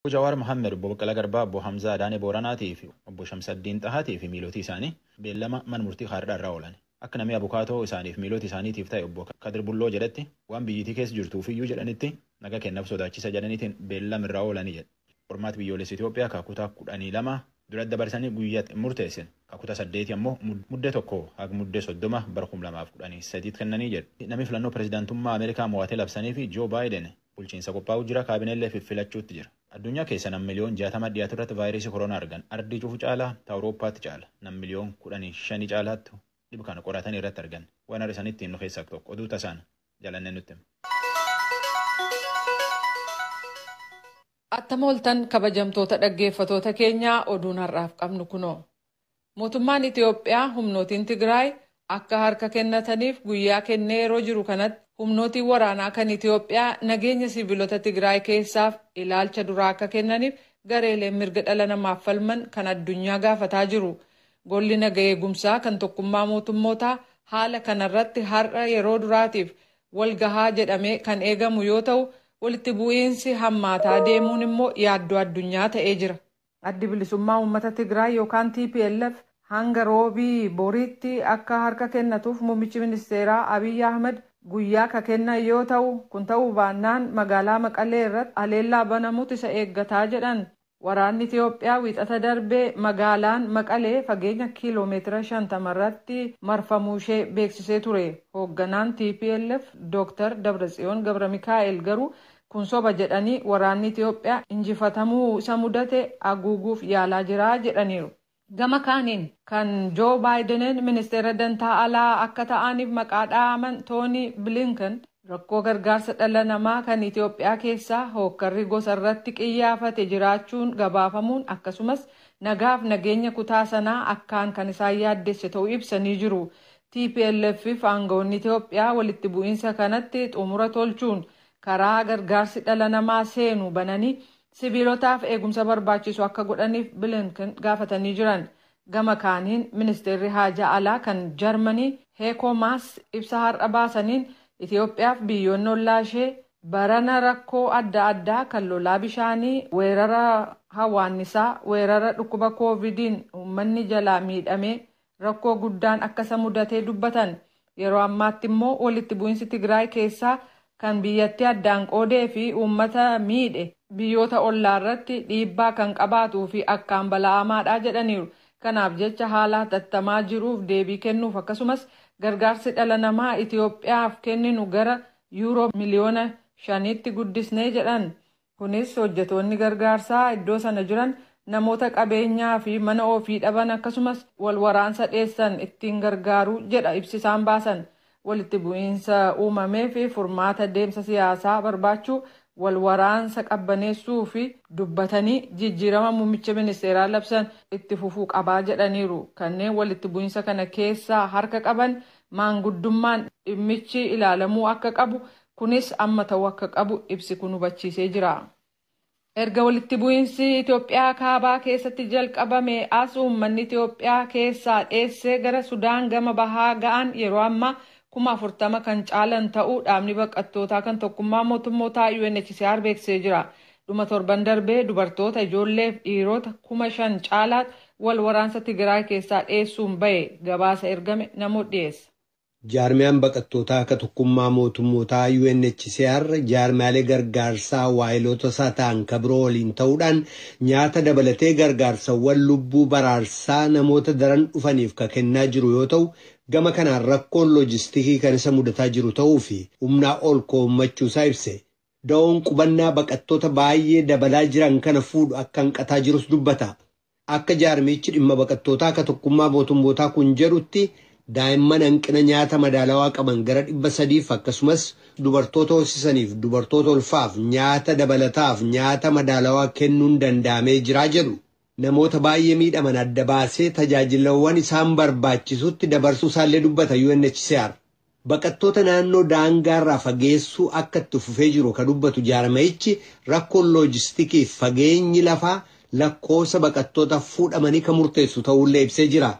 Obbo Jawaar Mohammed, Obbo Baqqalaa Garbaa, Obbo Hamzaa Adaanee Booranaatii fi Obbo Shamsaddiin Xahaatii fi miilotii isaanii beellama mana murtii haardhaa irraa oolan. Akka namii abukaatoo isaaniif miiloti isaaniitiif taye Obbo Kadir Bulloo jedhetti waan biyyitii keessa jirtuufiyyuu jedhanitti naga keennaf sodaachisa jedhaniitiin beellama irraa oolani jedhe. Qormaati Biyyoolessa Itoophiyaa ka kutaa kudhanii lama dura dabarsanii guyyaa itti hin murteessine. Ka kutaa saddeetii ammoo Muddee tokko haga Muddee soddoma bara kum lamaa fi kudhanii sadiitti kennanii jedhe. Namii filannoo pirezidaantummaa Ameerikaa moo'ate labsaniifi Joo Baayiden Bulchiinsa qophaa'uu jira, kaabineellee fiffilachuutti jira. Addunyaa keessa nam miliyoon 60 dhiyaatu irratti vaayirasii koroonaa argan. Ardii cufu caalaa ta Awurooppaatti caala. Nam miliyoon 15 caalaattu dhib kana qoratanii irratti argan. Waan har'a isanitti himnu keessaa tokko. Oduu tasaan Jalanneen nutti hima. Attam ooltan kabajamtoota dhaggeeffatoota keenyaa oduun har'aaf qabnu kunoo. Mootummaan Itiyoophiyaa humnootiin Tigraay akka harka kennataniif guyyaa kennee yeroo jiru kanatti humnootiin waraanaa kan Itiyoophiyaa nageenya siivilota Tigraay keessaaf ilaalcha duraa akka kennaniif gareeleen mirga dhala namaaf falman kan addunyaa gaafataa jiru. Golli naga eegumsaa kan Tokkummaa Mootummootaa haala kanarratti har'a yeroo duraatiif wal gahaa jedhamee kan eegamu yoo ta'u, walitti bu'iinsi hammaataa deemuun immoo yaaddoo addunyaa ta'ee jira. Addi Bilisummaa Uummata Tigraay yookaan tplf hanga Roobii boriitti akka harka kennatuuf Muummichi Ministeeraa Abiy Ahmad guyyaa ka kennan yoo ta'u, kun ta'uu baannaan magaalaa Maqalee irratti haleellaa banamutu isa eeggata jedhan. Waraanni Itiyoophiyaa Wiixata darbe magaalaan Maqalee fageenya kiiloo meetira 50 irratti marfamuu ishee beeksisee ture. Hoogganaan tplf Dooktar Dabratsiyoon Gabramikaa'el garuu Kun soba jedhanii waraanni Itiyoophiyaa injifatamuu isa mudate aguuguuf yaalaa jira jedhaniiru. Gama kaaniin kan Joo Baayidenen ministeera dantaa alaa akka ta'aaniif maqaa dha'aaman Toonii Bilinken rakkoo gargaarsa dhala namaa kan Itiyoophiyaa keessaa hookkarri gosa irratti qiyyaafate jiraachuun gabaafamuun akkasumas nagaaf nageenya kutaa sanaa akkaan kan isaan yaaddesse ta'u ibsanii jiru. TPLF'f aangawoonni Itiyoophiyaa walitti bu'iinsa kanatti xumura tolchuun karaa gargaarsi dhala namaa seenu bananii siviilotaaf eegumsa barbaachisu akka godhaniif Bilinken gaafatanii jiran. Gama kaaniin ministeerri haajaa alaa kan Jarmanii Heekoo Maas ibsa har'a baasaniin Itiyoophiyaaf biyyoonni ollaa ishee barana rakkoo adda addaa kan lolaa bishaanii, weerara hawaannisaa, weerara dhukkuba koovidiin uummanni jalaa miidhamee rakkoo guddaan akka isa mudatee dubbatan. Yeroo ammaatti immoo walitti bu'insi Tigraay keessaa kan biyyattii addaan qoodee fi uummata miidhe biyyoota ollaa irratti dhiibbaa kan qabaatuu fi akkaan bala'amaadha jedhaniiru. Kanaaf jecha haala hatattamaa jiruuf deebii kennuuf akkasumas gargaarsi dhala namaa Itiyoophiyaaf kenninu gara Yuuroo miliyoona shaniitti guddisne jedhan. Kunis hojjetoonni gargaarsaa iddoo sana jiran namoota qabeenyaa fi mana ofii dhaban akkasumas wal waraansa dheessan ittiin gargaaru jedha ibsi isaan baasan. Walitti bu'iinsa uumameef furmaata deemsa siyaasaa barbaachuu, wal waraansa qabbaneessuu fi dubbatanii jijjiirama muummicha ministeeraa labsan itti fufuu qaba jedhaniiru. Kanneen walitti bu'iinsa kana keessaa harka qaban maanguddummaan dhimmichi ilaalamuu akka qabu Kunis amma ta'uu akka qabu ibsi kun hubachiisee jira. Erga walitti bu'iinsi Itoophiyaa Kaabaa keessatti jalqabame as uummanni Itoophiyaa keessaa dheessee gara Sudaan gama bahaa ga'an yeroo ammaa kuma 40 kan caalan ta'uu dhaabni baqattootaa kan tokkummaa mootummootaa UNHCR beeksisee jira. Dhuma torban darbee dubartoota, ijoolleef dhiirota kuma 5 caalaat wal waraansa Tigiraay keessaa dheessuun ba'e gabaasa ergame namoot dhiyeessa. Jaarmiyaan baqattootaa akka Tokkummaa Mootummootaa, UNHCR, jaarmiyaalee gargaarsaa waahilootasaa ta'an ka biroo waliin ta'uudhaan nyaata dabalatee gargaarsawwan lubbuu baraarsaa namoota daran dhufaniif ka kennaa jiru yoo ta'u, gama kanaan rakkoon loojistikii kan isa mudataa jiru ta'uu fi humnaa ol koommachuusaa ibse. Da'oon qubannaa baqattoota baayyee dabalaa jiran kana fuudhu akka hanqataa jirus dubbata. Akka jaarmiyichi dhimma baqattootaa ka Tokkummaa Mootummootaa kun jedhutti daa'imman hanqina nyaata madaalawaa qaban gara 300f akkasumas dubartoota hoosisaniif dubartoota ulfaaf nyaata dabalataaf nyaata madaalawaa kennuun danda'amee jira jedhu. Namoota baay'ee miidhaman adda baasee tajaajilawwan isaan barbaachisutti dabarsuu isaallee dubbata UNHCR. Baqattoota naannoo daangaarraa fageessuu akka itti fufee jiru ka dubbatu jaarmayichi rakkoon loojistikiif fageenyi lafaa lakkoofsa baqattoota fuudhamanii ka murteessu ta'uullee ibsee jira.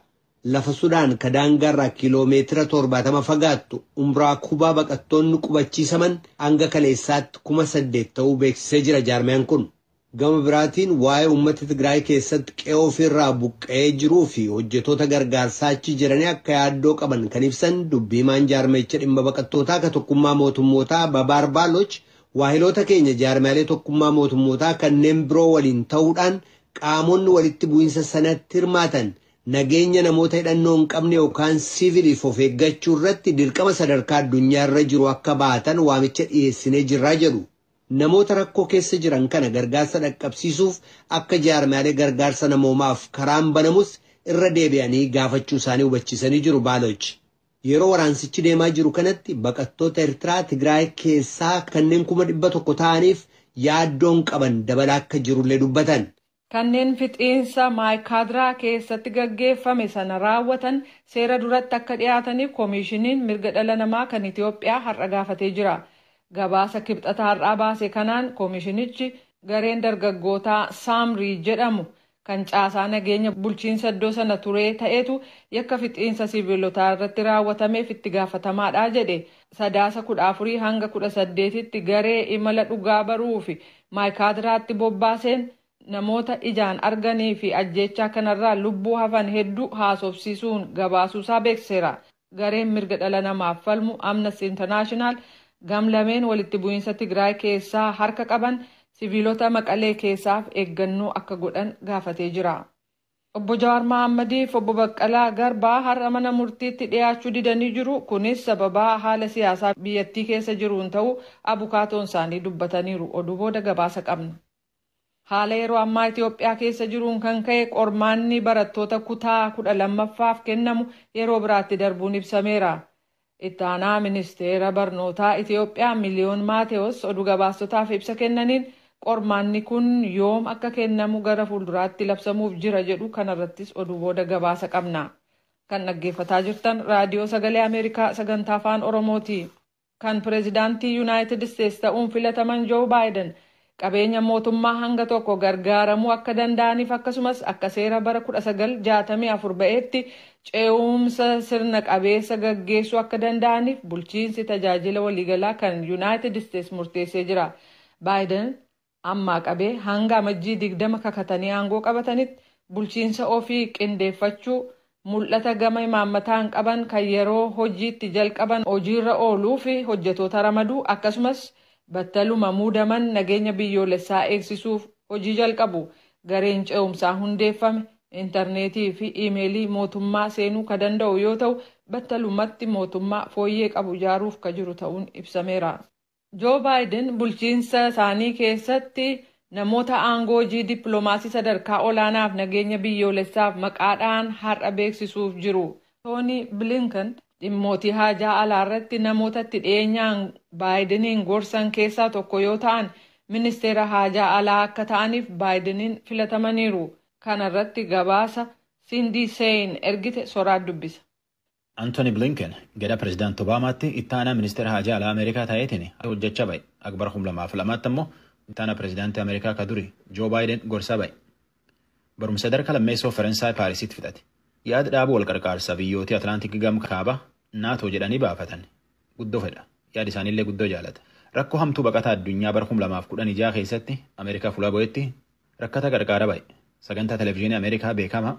Lafa Sudaan ka daangaarraa kiiloo meetira 70 fagaattu Umraa Kubaa baqattoonni qubachiisaman hanga kaleessaatti 8,000 ta'uu beeksisee jira jaarmayaan kun. Gama biraatiin waa'ee uummata Tigraay keessatti qe'ee ofii irraa buqqa'ee jiruu fi hojjetoota gargaarsaa achi jiranii akka yaaddoo qaban kan ibsan dubbi himaan jaarmayicha dhimma baqattootaa ka tokkummaa mootummootaa Babaar Baaloch waahiloota keenya jaarmiyaalee tokkummaa mootummootaa kanneen biroo waliin ta'uudhaan qaamonni walitti bu'insa sanatti hirmaatan nageenya namoota hidhannoo hin qabne yookaan siiviliif of eeggachuu irratti dirqama sadarkaa addunyaa irra jiru akka baatan waamicha dhiyeessinee jirraa jedhu. Namoota rakkoo keessa jiran kana gargaarsa dhaqqabsiisuuf akka jaarmiyaalee gargaarsa namoomaaf karaan banamus irra deebi'anii gaafachuu isaanii hubachiisanii jiru Baaloch. Yeroo waraansichi deemaa jiru kanatti baqattoota Ertiraa Tigraay keessaa kanneen kuma 100 ta'aniif yaaddoon qaban dabalaa akka jirullee dubbatan. Kanneen fixiinsa Maaykaadraa keessatti gaggeeffame sana raawwatan seera duratti akka dhiyaataniif Komiishiniin Mirga Dhala Namaa kan Itoophiyaa har'a gaafatee jira. Gabaasa Kibxata har'aa baase kanaan Komiishinichi gareen dargaggootaa Saamrii jedhamu kan caasaa nageenya bulchiinsa iddoo sana turee ta'etu yakka fixiinsa siiviilotaa irratti raawwatameef itti gaafatamaadha jedhe. Sadaasa 14 hanga 18tti garee imala dhugaa baruufi Maayikaadiraatti bobbaaseen namoota ijaan arganii fi ajjeechaa kanarraa lubbuu hafan hedduu haasofsiisuun gabaasuusaa beeksiseera. Gareen mirga dhala namaaf falmu Amnesty International gamlameen walitti bu'iinsa Tigraay keessaa harka qaban siviilota Maqalee keessaaf eeggannoo akka godhan gaafatee jira. Obbo Jawaar Mahaammadiif Obbo Baqqalaa Garbaa har'a mana murtiitti dhiyaachuu didanii jiru. Kunis sababaa haala siyaasaa biyyattii keessa jiruun ta'uu abukaatoon isaanii dubbataniiru. Oduu booda gabaasa qabna. Haala yeroo ammaa Itoophiyaa keessa jiruun kan ka'e qormaanni barattoota kutaa 12ffaaf kennamu yeroo biraatti darbuun ibsameera. Itti aanaa ministeera barnootaa Itiyoophiyaa Miliyoon Maatewoos oduu gabaastotaaf ibsa kennaniin, qormaanni kun yoom akka kennamu gara fuulduraatti labsamuuf jira jedhu kanarrattis oduu booda gabaasa qabna. Kan dhaggeeffataa jirtan Raadiyoo Sagalee Ameerikaa sagantaa Afaan Oromooti. Kan pireezidaantii Yunaayitid Isteets ta'uun filataman Joo Baayiden qabeenya mootummaa hanga tokko gargaaramuu akka danda'aniif akkasumas akka seera bara 1964 ba'eetti ce'uumsa sirna qabeessa gaggeessuu akka danda'aniif bulchiinsi tajaajila waliigalaa kan Yunaayitid Isteets murteessee jira. Baayiden ammaa qabee hanga Amajjii 20 kakatanii aangoo qabatanitti bulchiinsa ofii qindeeffachuu mul'ata gama imaammataan qaban kan yeroo hojii itti jalqaban hojiirra ooluuf hojjetoota ramaduu akkasumas battaluma muudaman nageenya biyyoolessaa eegsisuuf hojii jalqabu. Gareen ce'umsaa hundeeffame interneetii fi iimeelii mootummaa seenuu ka danda'u yoo ta'u, battalumatti mootummaa fooyyee qabu ijaaruuf ka jiru ta'uun ibsameera. Joo Baayiden bulchiinsa isaanii keessatti namoota aangoo hojii dippilomaasii sadarkaa olaanaaf nageenya biyyoolessaaf maqaa dha'an har'a beeksisuuf jiru. Toonii Bilinken dhimmootii haajaa alaa irratti namoota itti dhiyeenyaan Baayideniin gorsan keessaa tokko yoo ta'an, ministeera haajaa alaa akka ta'aniif Baayideniin filatamaniiru. Kana irratti gabaasa Sindii Sein ergite Soraat dubbisa. Anthony Blinken gara Pirezidaant Obaamaatti itti aanaa ministeera haajaa alaa Ameerikaa ta'eetiin hojjechaa ba'e. Akka bara 2002tti ammoo itti aanaa pirezidaantii Ameerikaa ka duri Joo Baayiden gorsaa ba'e. Barumsa sadarkaa lammeessoo Faransaay Paarisitti fixate. Yaad dhaaba wal qarqaarsa biyyootii Atlaantik gam kaabaa NATO jedhanii baafatan guddoo fedha. Yaad isaaniillee guddoo jaalata. Rakkoo hamtuu baqataa addunyaa bara 2016 keessatti Ameerikaa fulaa bu'etti rakkataa qarqaara ba'e. Sagantaa televiziyoonii Ameerikaa beekamaa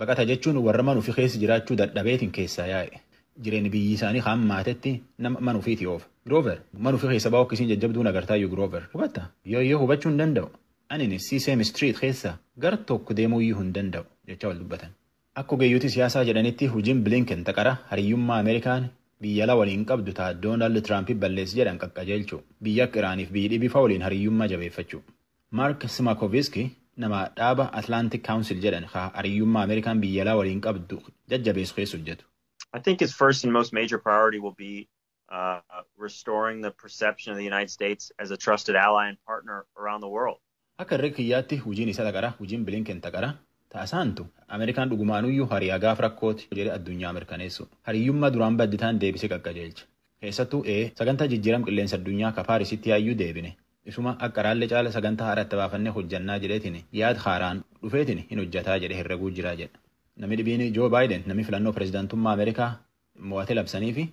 Baqata jechuun warra mana ufi keessa jiraachuu dadhabeetiin keessaa yaa'e. Jireenni biyyi isaanii ka hammaatetti nama mana ufiitii oofa. Giroover, mana ufi keessa ba'uu akka isiin jajjabduun agartaayyu Giroover. Hubatta? Yooyyoo hubachuu hin danda'u. Anini Sesame Street keessa gar tokko deemuuyyu hin danda'u jechaa wal dubbatan. Akka ogeeyyoti siyaasaa jedhanitti hujiin Blinken ta qara hariyyummaa Amerikaan biyya alaa waliin qabdu ta Donald Trump balleessi jedhan qaqqajeelchuu. Biyya akka Iraaniif biyyi dhibii fa waliin hariyyummaa jabeeffachuu. Mark Smakovsky nama dhaaba Atlantic Council jedhan ka hariyyummaa Ameerikaan biyya alaa waliin qabdu jajjabeessu keessa hojjetu. I think his first and most major priority will be uh, restoring the perception of the United States as a trusted ally and partner around the world. Akka herrega kiyyaatti hojiin isa taqara, hojiin Blinken taqara. Taasaantu Ameerikaan dhugumaanuyyuu hariyaa gaaf rakkooti jedhe addunyaa mirkaneessu. Hariyyummaa duraan badditaan deebisee qaqqajeelcha. Keessattuu ee sagantaa jijjiiram qilleensa addunyaa ka Paarisitti yaayyuu deebine. Isuma akka araallee caala sagantaa haara itti baafannee hojjannaa jedheetiin yaad haaraan dhufeetiin hin hojjataa jedhee herreguu jira jedha. Nami dhibiin Joo Baayiden nami filannoo pirezidaantummaa Ameerikaa mo'ate labsaniifi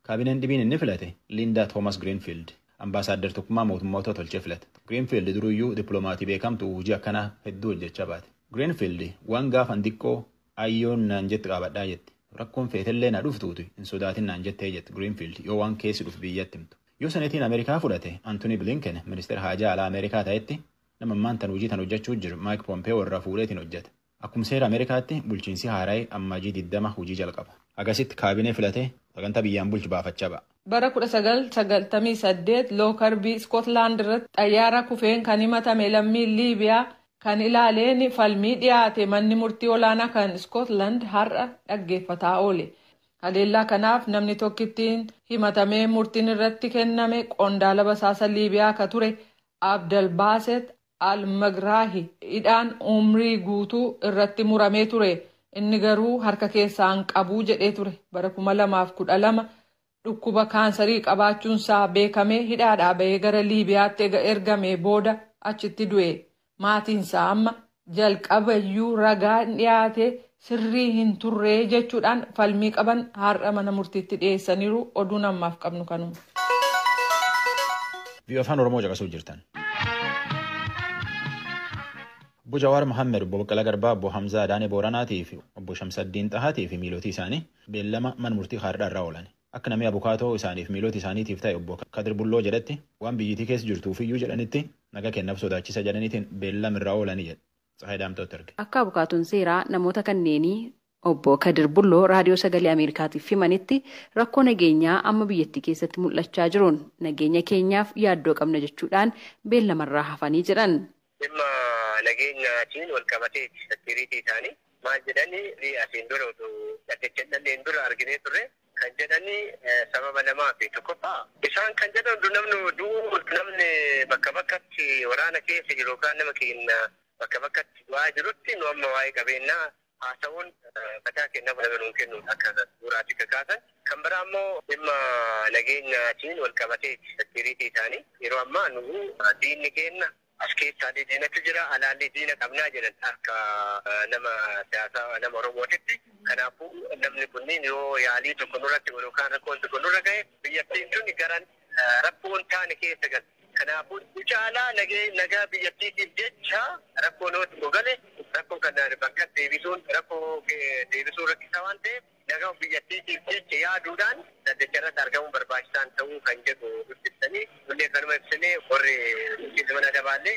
kaabineen dhibiin inni filate Liindaa Toomas Giriinfiild ambaasaadder tokkummaa mootummootaa tolchee filate. Giriinfiild duruyyuu dippilomaatii beekamtu'u hujii akkanaa hedduu hojjachaa baate. Giriinfiild waan gaafan diqqoo Ayyoon naan jette qaabadhaa jette. Rakkoon feetellee na dhuftuuti hin sodaatin naan jettee jette Greenfield yoo waan keessi dhufu biyyatti himtu. Yoo Senetiin Amerikaa fudhate Antonii Blinken ministeera haajaa alaa Amerikaa ta'etti nama ammaan tan hujii tan hojjachuu jiru Mike Pompeo irraa fuudheetiin hojjata. Akkum seera Amerikaatti bulchiinsii haarayi Ammaajii 20 hujii jalqaba. Hagasitti kaabinee filatee sagantaa biyyaan bulchu baafachaa ba'a. Bara 1998 Lookarbii Iskotlaand irratti xayyaara kufeen kan himatame lammiin Liibiyaa kan ilaaleen falmii dhiyaate manni murtii olaanaa kan Iskootland har'a dhaggeeffataa oole. Haleellaa kanaaf namni tokki ittiin himatamee murtiin irratti kenname qondaala basaasa Liibiyaa ka ture Abdelbaset al-Megrahi hidhaan umrii guutuu irratti muramee ture. Inni garuu harka keessaa hin qabu jedhee ture. Bara 2012 Dhukkuba kaansarii qabaachuunsaa beekamee hidhaadhaa bahee gara Liibiyaatti ega ergamee booda achitti du'e. Maatiinsaa amma jalqabayyuu ragaan dhiyaate sirrii hin turre jechuudhaan falmii qaban har'a mana murtiitti dhiyeessaniiru. Oduun ammaaf qabnu kanuma. Vii'oo Afaan Oromoo caqasuu jirtan. Obbo Jawaar Mohaammed, Obbo Baqqalaa Garbaa, Obbo Hamzaa Adaanee Booranaatii fi Obbo Shamsaddiin Xahaatii fi miilootii isaanii beellama mana murtii haardha irra oolan. Akka namii abukaatoo isaaniif miiloti isaaniitiif ta'e obbo Kadir Bulloo jedhetti waan biyyitii keessa jirtuufiyyuu jedhanitti naga keennaf sodaachisa jedhaniitiin beellam irra oolani jedhe Tsahaay Daamxootti erge. Akka abukaatoon seeraa namoota kanneenii obbo Kadir Bulloo Raadiyoo Sagalee Ameerikaatiif himanitti rakkoo nageenyaa amma biyyattii keessatti mul'achaa jiruun nageenya keenyaaf yaaddoo qabna jechuudhaan beellamarraa hafanii jedhan. Dhimma nageenyaatiin walqabateeti security isaanii maal jedhani nuyi asiin dura utuu dhaddacha hin dhandheen dura arginee turre kan jedhani sababa lamaafi tokkoffaa isaan kan jedhan utuu namni du'uu utuu namni bakka bakkatti waraana keessa jiru yookaan nama keenya bakka bakkatti du'aa jirutti nu amma waa'ee qabeennaa haasa'uun mataa keenyaaf laga nuun kennuun akka bu'uuraatti kan kaasan. Kan biraa immoo dhimma nageenyaatiin wal qabateeti security isaanii. Yeroo ammaa nuyi diinni keenya as keessaallee diinatu jira, alaallee diina qabna jedhan akka nama siyaasaa nama Oromootitti. Kanaafuu namni kunniin yoo yaalii tokko nurratti godhu yookaan rakkoon tokko nurra gahe biyyattiin tuni gara rakkoo hin taane keessa galti. Kanaafuu irri caalaa nagaa biyyattiitiif jecha rakkoon yoo tokko gale rakkoo kana bakkatti deebisuun rakkoo deebisuun rakkisaa waan ta'eef nagaa biyyattiitiif jecha yaaduudhaan dhaddacha irratti argamuun barbaachisaan ta'uu kan jedhu nutti ibsanii nullee kanuma ibsinee warri bulchiinsa mana adabaallee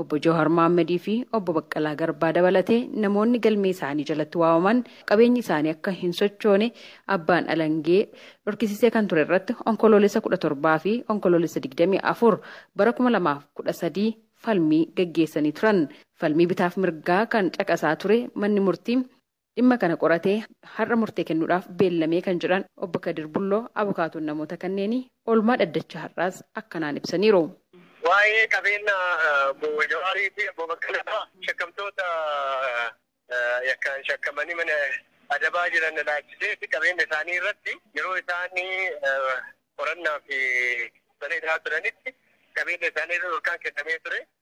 Obbo Jawhar Mohammed fi Obbo Baqqalaa Garbaa dabalatee namoonni galmee isaanii jalatti waamaman qabeenyi isaanii akka hin sochoone abbaan alangee dhorkisiisee kan ture irratti Onkoloolessa 17 fi Onkoloolessa 24 bara 2013 falmii gaggeessanii turan. Falmii bitaaf mirgaa kan caqasaa ture manni murtii dhimma kana qoratee har'a murtee kennuudhaaf beellamee kan jedhan Obbo Kadir Bulloo abukaatoon namoota kanneenii oolmaa dhaddacha har'aas akkanaan ibsaniiru. Waa'ee qabeenya Obbo Jawaarii fi Obbo Baqqalaa fa'a shakkamtoota yakkaan shakkamanii mana adabaa jiran ilaachisee fi qabeenya isaanii irratti yeroo isaan qorannaaf mana hidhaa turanitti qabeenya isaanii irra dhorkaan kennamee ture.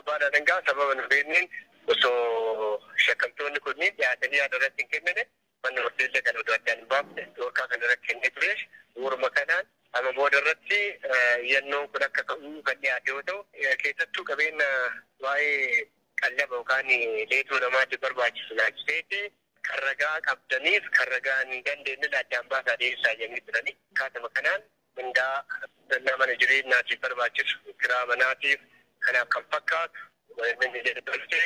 Abbaan Alangaa sababa hin beekneen osoo shakkamtoonni kunniin dhiyaatanii yaada irratti hin kennine manni murtii illee kan odoo addaan hin baafne dhorkaa kan irratti kennee ture. Bu'uuruma kanaan amma booda irratti iyyannoon kun akka ka'u kan dhiyaate yoo ta'u, keessattuu qabeenya waa'ee qallaba yookaan leetoo namaatiif barbaachisu ilaalchiseeti kan ragaa qabdaniif kan ragaa hin dandeenyellee addaan baasaa dhiyeessaa jedhanii turani. Akkaatuma kanaan mindaa, uffannaa mana jireenyaatiif barbaachisu, kiraa manaatiif, kanaaf kan fakkaatu wayannoonni jedhu ture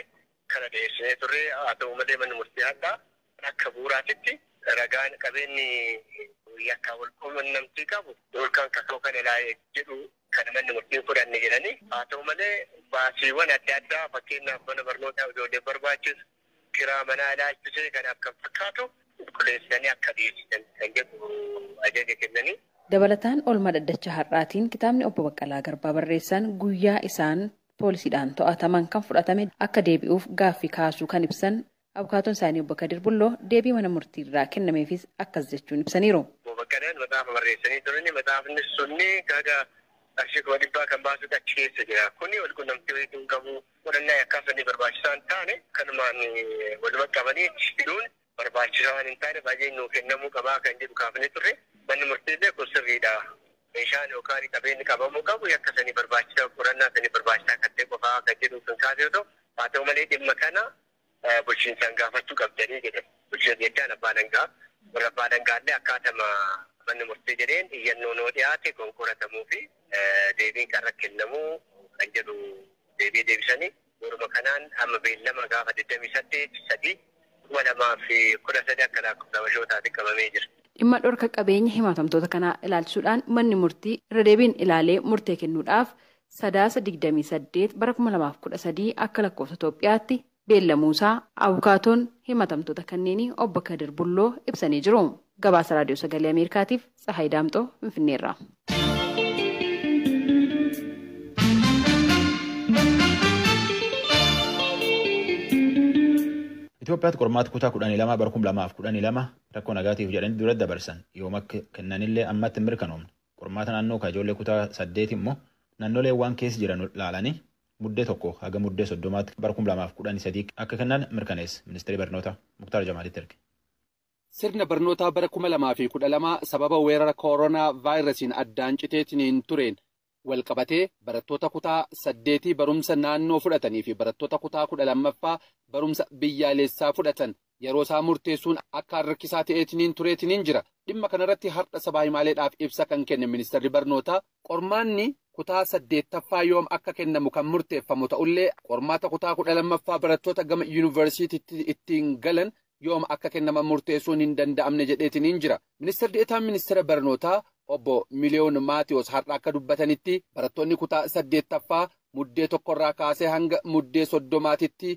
kana dhiyeessinee turre. Haa ta'u malee manni murtii har'aa akka bu'uuraatitti ragaan qabeenyi yakkaan wal quunnamtii qabu yookaan kaka'u kana ilaali jedhu kana manni murtii hin fudhanne jedhanii. Haa ta'u malee baasiiwwan adda addaa fakkeenyaaf mana barnootaa ijoolleef barbaachisu, Kiraa manaa ilaalchisee kan akka fakkaatu qulqulleessitanii akka dhiyeessitan kan jedhu ajaja kennanii. Dabalataan oolmaa dhaddacha har'aatiin kitaabni Obbo Baqqalaa Garbaa barreessan guyyaa isaan poolisiidhaan to'ataman kan fudhatame akka deebi'uuf gaaffii kaasuu kan ibsan abukaatoon isaanii Obbo Kadir Bulloo deebii mana murtiirraa kennameefis akkas jechuun ibsaniiru. Obbo Baqqalaan maxaafa barreessanii turani. Maxaafni sunni gaga qarshii kuma dhibbaa kan baasudha achi keessa jira. Kuni walqunnamtii wayii hin qabu. Qorannaa yakkaa sanii barbaachisaa hin taane kanumaan waluma qabanii hidhuun barbaachisaa waan hin taaneef ajajni nuu kennamuu qabaa kan jedhu kaafnee turre. Manni murtiillee kun sirriidha. Meeshaan yookaan qabeenyi qabamuu qabu yakka sanii barbaachisaa qorannaa sanii barbaachisaa kan ta'e qofaa kan jedhu kan kaase yoo ta'u, haa ta'u malee dhimma kana bulchiinsaan gaafachuu qabdanii jedhan. Bulchiinsi jechaan abbaa alangaa. Warri abbaa alangaallee akkaatama manni murtii jedheen iyyannoon yoo dhiyaate kan qoratamuu fi deebiin kan irratti kennamu kan jedhu deebii deebisanii bu'uuruma kanaan amma beellama gaafa 28 3 2013 akka lakkoofsa habashootaatti qabamee jira. Dhimma dhorka qabeenya himatamtoota kanaa ilaalchisuudhaan manni murtii irra deebiin ilaalee murtee kennuudhaaf Sadaasa 28 bara 2013 akka lakkoofsa Itoophiyaatti beellamuusaa abukaatoon himatamtoota kanneenii obbo Kadir Bulloo ibsanii jiru. Gabaasa Raadiyoo Sagalee Ameerikaatiif Tsahaay Daamxoo Finfinneerraa. Itoophiyaatti qormaata kutaa kudhanii lama bara kuma lamaaf kudhanii lama rakkoo nagaatiif jedhanii dura dabarsan yooma kennanillee ammatti hin mirkanoomne. Qormaata naannoo ka ijoollee kutaa saddeeti immoo nannoleen waan keessa jiran laalanii Muddee 1 haga Muddee 30tti bara 2013 akka kennan mirkaneesse Ministeerii Barnootaa Muktaar Jamaalitti erge. Sirna barnootaa bara 2012 sababa weerara kooronaa vaayirasiin addaan citeetiniin tureen walqabatee barattoota kutaa saddeetii barumsa naannoo fudhatanii fi barattoota kutaa 12ffaa barumsa biyyaaleessaa fudhatan Yeroo isaa murteessuun akkaan rakkisaa ta'eetiniin tureetiniin jira. Dhimma kana irratti hardha sabaa himaaleedhaaf ibsa kan kenne Ministarri Barnootaa, qormaanni kutaa 8ffaa yoom akka kennamu kan murteeffamu ta'ullee qormaata kutaa 12ffaa barattoota gama Yuunivarsiitiitti ittiin galan yoom akka kennaman murteessuun hin danda'amne jedheetiniin jira. Ministar De'etaan Ministeera Barnootaa Obbo Miliyoon Maatiwoos hardha akka dubbatanitti barattoonni kutaa 8ffaa Muddee 1 irraa kaasee hanga Muddee 30titti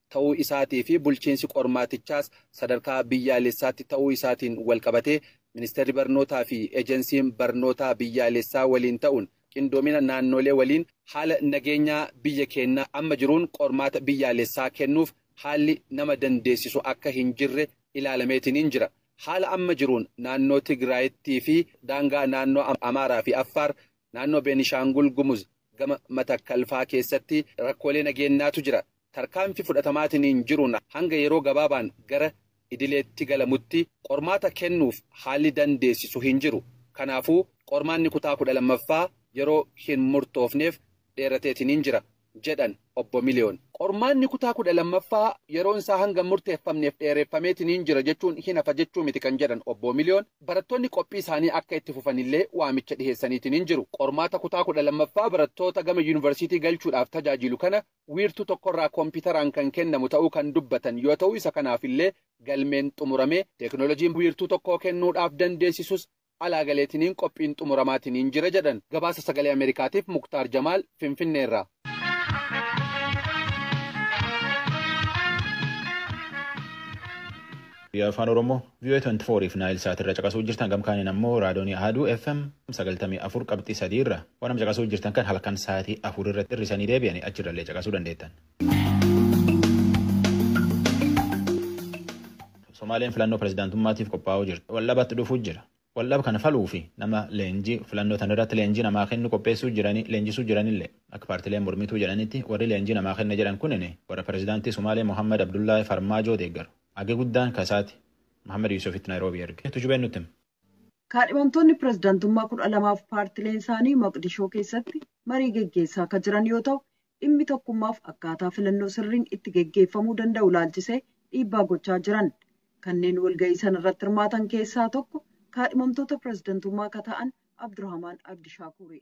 ta'uu isaatii fi bulchiinsi qormaatichaas sadarkaa biyyaalessaatti ta'uu isaatiin walqabatee Ministeerri Barnootaa fi Ejensiin Barnootaa Biyyaalessaa waliin ta'uun qindoomina naannoolee waliin haala nageenyaa biyya keennaa amma jiruun qormaata biyyaalessaa kennuuf haalli nama dandeessisu akka hin jirre ilaalameetiniin jira. Haala amma jiruun naannoo Tigraayittii fi daangaa naannoo Amaaraa fi Affaar, naannoo Beenishaangul Gumuz gama Matakkal faa keessatti rakkoolee nageennaatu jira. Tarkaanfi fudhatamaatiniin jiruun hanga yeroo gabaabaan gara idileetti galamutti qormaata kennuuf haalli dandeessisu hin jiru. Kanaafuu qormaanni kutaa 12ffaa yeroo hin murtoofneef dheerateetiniin jira jedhan Obbo Miliyoon. Qormaanni kutaa 12ffaa yeroon isaa hanga hin murteeffamneef dheereeffameetiniin jira jechuun hin hafa jechuu miti kan jedhan Obbo Miliyoon, barattoonni qophii isaanii akka itti fufanillee waamicha dhiheessaniitiniin jiru. Qormaata kutaa 12ffaa barattoota gama Yuunivarsiitii galchuudhaaf tajaajiilu kana wiirtuu tokkorraa kompiitaraan kan kennamu ta'uu kan dubbatan yoo ta'u isa kanaafillee galmeen xumuramee teeknoolojiin wiirtuu tokkoo kennuudhaaf dandeessisus alaa galeetiniin qophiin xumuramaatiniin jira jedhan. Gabaasa Sagalee Ameerikaatiif Muktaar Jamaal Finfinneerraa. Afaan Oromoo Vii'oo'ee 24 fi Naayil Saat irra caqasuu jirtan gam kaaniin ammoo raadoonii Ahaduu FM 93 qabxii 3 irra waan amma caqasuu jirtan kan halkan saatii 4 irratti hir'isanii deebi'anii achirrallee caqasuu dandeettan. Somaaleen filannoo pirezidaantummaatiif qophaa'uu jirti. Waldhabatti dhufuu jira. Waldhaba kana faluuf nama leenjii filannoo tana irratti leenjii namaa kennu qopheessuu jiranii leenjisuu jiranillee akka paartileen mormituu jedhanitti warri leenjii namaa kenna jedhan kunin warra pirezidaantii Sumaalee Mohaammad Abdullaahi Farmaajoo deeggaru. Hagi guddaan ka isaati. Mahaammad Yuusufitti Naayiroobii erge. Tujubeen nutti hima. Kaadhimamtoonni pirezidantummaa 12f paartileen isaanii Moqdishoo keessatti marii geggeessaa ka jiran yoo ta'u, dhimmi tokkummaaf akkaataa filannoo sirriin itti geggeeffamuu danda'u ilaalchisee dhiibbaa gochaa jiran. Kanneen walga'ii sana irratti hirmaatan keessaa tokko kaadhimamtoota pirezidantummaa ka ta'an Abdurahamaan Abdishaakuuri.